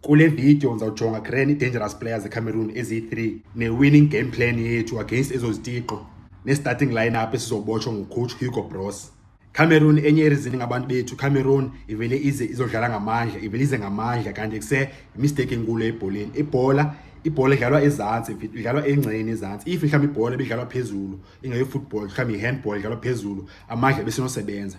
Kule video ndizawujonga grand i-dangerous players ecameroon eziyi-3 ne-winning game plan yethu against ezo zitiqo ne-starting lineup esizobotshwa ngucoach hugo bros cameroon enye erizini ngabantu bethu cameroon ivele ize izodlala ngamandla ivele ize ngamandla kanti kuse yimisteyiki enkulu ebholeni ibhola ibhola idlalwa ezantsi idlalwa engceni ezantsi if mhlawumbi ibhola ibidlalwa phezulu ingeyofootball mhlawumbi yi-handball idlalwa phezulu amandla besinosebenza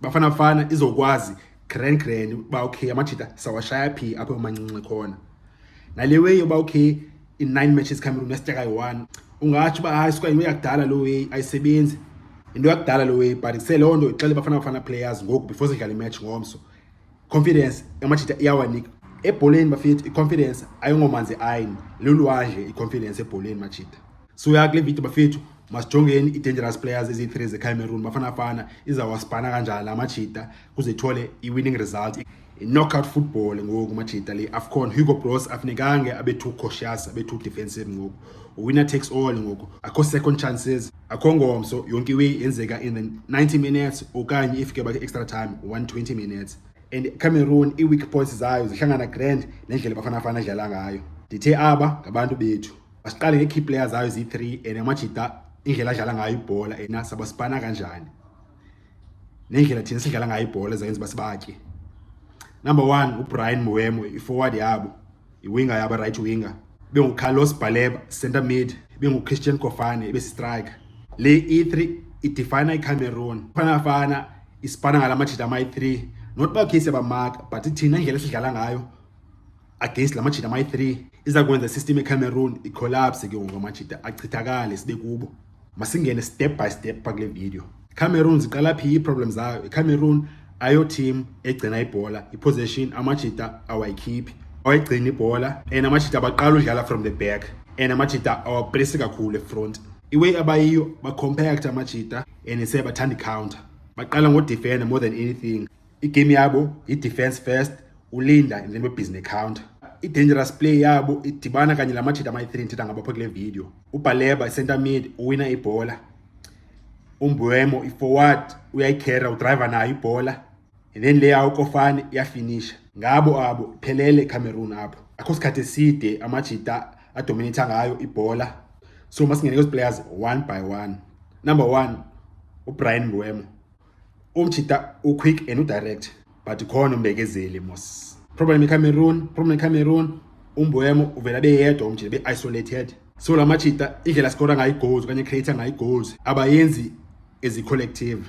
Bafana Bafana izokwazi grand grand uba okay amajita sawashaya phi apho emancinci khona nale way yoba okay in nine matches cameroon yasitya kayi-one ungatsho uba hayi suka yinto yakudala loo way ayisebenzi yinto yakudala loo way but seloo nto ixele bafana bafana players ngoku before sidlala imatch ngomso confidence amajita iyawanika ebholeni bafethu i-confidence ayingomanzi ayini lulwandle i-confidence ebholeni majita siuya kule video bafethu masijongeni i-dangerous players ezi-three zecameroon bafanafana izawasipana kanjani la majita kuze ithole i-winning result i-knockout football ngoku majita le afcon hugo bros afunekange abe-two cautious abe-two defensive ngoku winner takes all ngoku akho second chances akho ngomso yonke iwe yenzeka in the 90 minutes okanye ifike bakhe extra time 120 minutes and cameroon ii-weak points zayo zihlangana grand nendlela bafanafana adlala ngayo ndithe aba ngabantu bethu basiqale ngee-key player zayo ziyi-three and amajita indlela adlala ngayo ibhola ena sabasipana kanjani nendlela thina sidlala ngayo ibhola ezayenza uba sibatye number one ubrian moemo i-forward yabo iwinga yabo right winger bengucarlos baleba center mid benguchristian kofane ebesistrike le i-3 idefina icameroon fanafana isipana ngala majita amayi-3 not bakhe sebamaka but thina indlela esidlala ngayo against la majita amayi-3 iza kwenza isystem ecameroon icollapse ke ngoku amajita achithakale sibe kubo masingene step by step pha kule video cameroon ziqala phi iiproblem zayo icameroon ayo team egcina ibhola iposition amajita awayikhiphi awayigcina ibhola and amajita abaqala udlala from the back and amajita awapresi kakhulu efront iway abayiyo bacompact amajita and sebathanda icounter baqala ngodefender more than anything igame yabo yi-defense first ulinda and then bebhizi necounter i-dangerous play yabo idibana kanye la majita amayi-three ndithetha ngabapha kule video ubhaleba i-center mid uwina ibhola umbuemo i-forward uyayikhera udriver nayo ibhola and then leya ukofane iyafinisha ngabo abo phelele icameroon apho akho sikhathi eside amajita adominatha ngayo ibhola so masingene kwezi players one by one number one ubrian mbuemo umjita uquick and udirect but khona umbekezeli mos problem icameroon problem icameroon umbuemo uvele abe yedwa umjita be-isolated so la majita indlela sikora ngayo igoals okanye creator ngayo igoals abayenzi ezicollective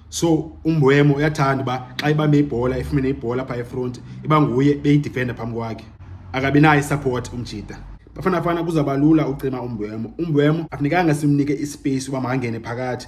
so umbuemo uyathanda uba xa ibambe ibhola ifumene ibhola phaa efront iba nguye beyidifenda phambi kwakhe akabi nayo isupport umjita bafana fana kuzawuba lula ucima umbuemo umbuemo afunekanga simnike ispace uba makangene phakathi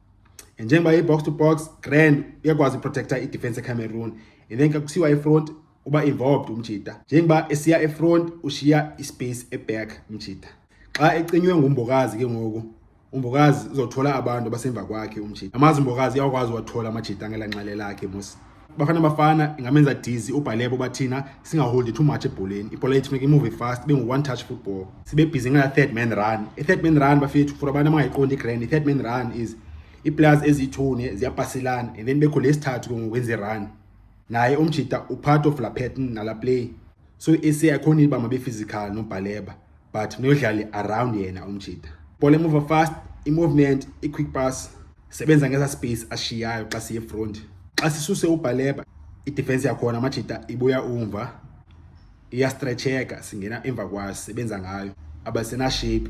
njengoba i-box to box grand uyakwazi uprotecta idefense ecameroon and then xa kusiwa efront uba involved umjita njengoba esiya efront ushiya ispace eback umjita xa ecinywe ngumbokazi ke ngoku umbokazi uzothola abantu abasemva kwakhe umjita amazi umbokazi uyakwazi wathola amajita ngelanxele lakhe mos Bafana Bafana ingamenza dizzy uBhalebo bathina singaholdi too much ebholeni ibhola yethu funeka imuve fast ibe ngu-one touch football sibe bhizi ngala third man run i-third man run bafethu for abantu abangayiqondi igrand i-third man run is ii-players eziyithune ziyapaselana and then bekho lesithathu ke ngokwenza irun naye umjita upart of la pattern nala play so ese akho niba mabe physical no baleba but no dlali around yena umjita ball emuva fast i movement i quick pass sebenza ngeza space ashiyayo xa siye front xa sisuse ubhaleba i defense yakhona amajita ibuya umva iya stretcheka singena emva kwayo sebenza ngayo abasena shape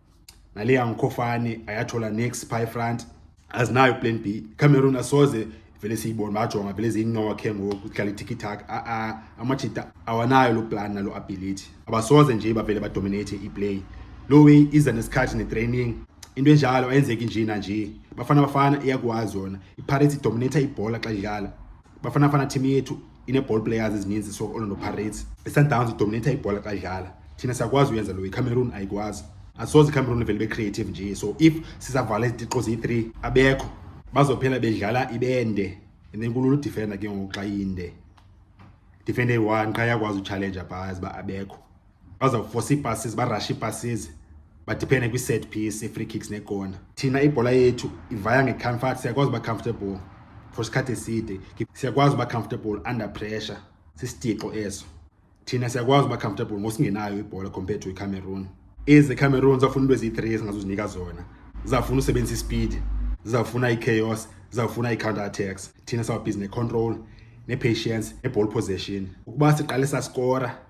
nale yangkhofane ayathola next pie front azinayo plan b cameroon asoze vele siyibona bajonga vele ziyincowa khe ngoku kudlala itikittak a-a amajita awanayo loo plan naloo ability abasoze nje bavele badominate iplay loo way iza nesikhathi netraining into enjalo ayenzeki nje nanje bafana bafana iyakwazi yona ipirates idominata ibhola xa idlala Bafana Bafana team yethu ine-ball players ezininzi so Orlando Pirates. ISundowns idominate ibhola xa idlala. Thina siyakwazi uyenza lo iCameroon ayikwazi. Asoze iCameroon ivele be-creative nje so if sizavala izitixo ziyi-3 abekho bazophela bedlala ibende and then kulula udifenda ke ngoku xa inde defende eyi-one qha yakwazi utshalenja bhazi uba abekho bazawufosa iipasses barashe iipasses badiphene kwi-set piece i-free kicks nekona thina ibhola yethu ivaya ngecomfort siyakwazi uba comfortable for isikhathi eside siyakwazi uba comfortable under pressure sisitixo eso thina siyakwazi uba comfortable ngosingenayo ibhola compared to icameroon ezi cameroon zafuna into eziyi-three ezingazuzinika zona zizafuna usebenzisa ispeed zizafuna i-chaos zizafuna i-counter attacks thina sawubhizi ne-control ne-patience ne-ball possession ukuba siqale sasikora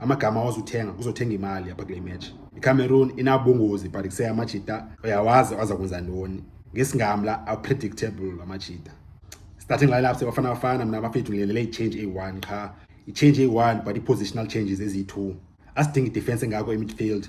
amagama awazuthenga kuzothenga imali apha kule match icameroon inabungozi but kuse amajita uyawazi waza kwenza ntoni ngesingamla apredictable amajita starting lineup sebafana bafana mna bafethu ngilelele ichange eyi-one qha ichange eyi-one but i-positional changes eziyi-two asidingi idefense engako emidfield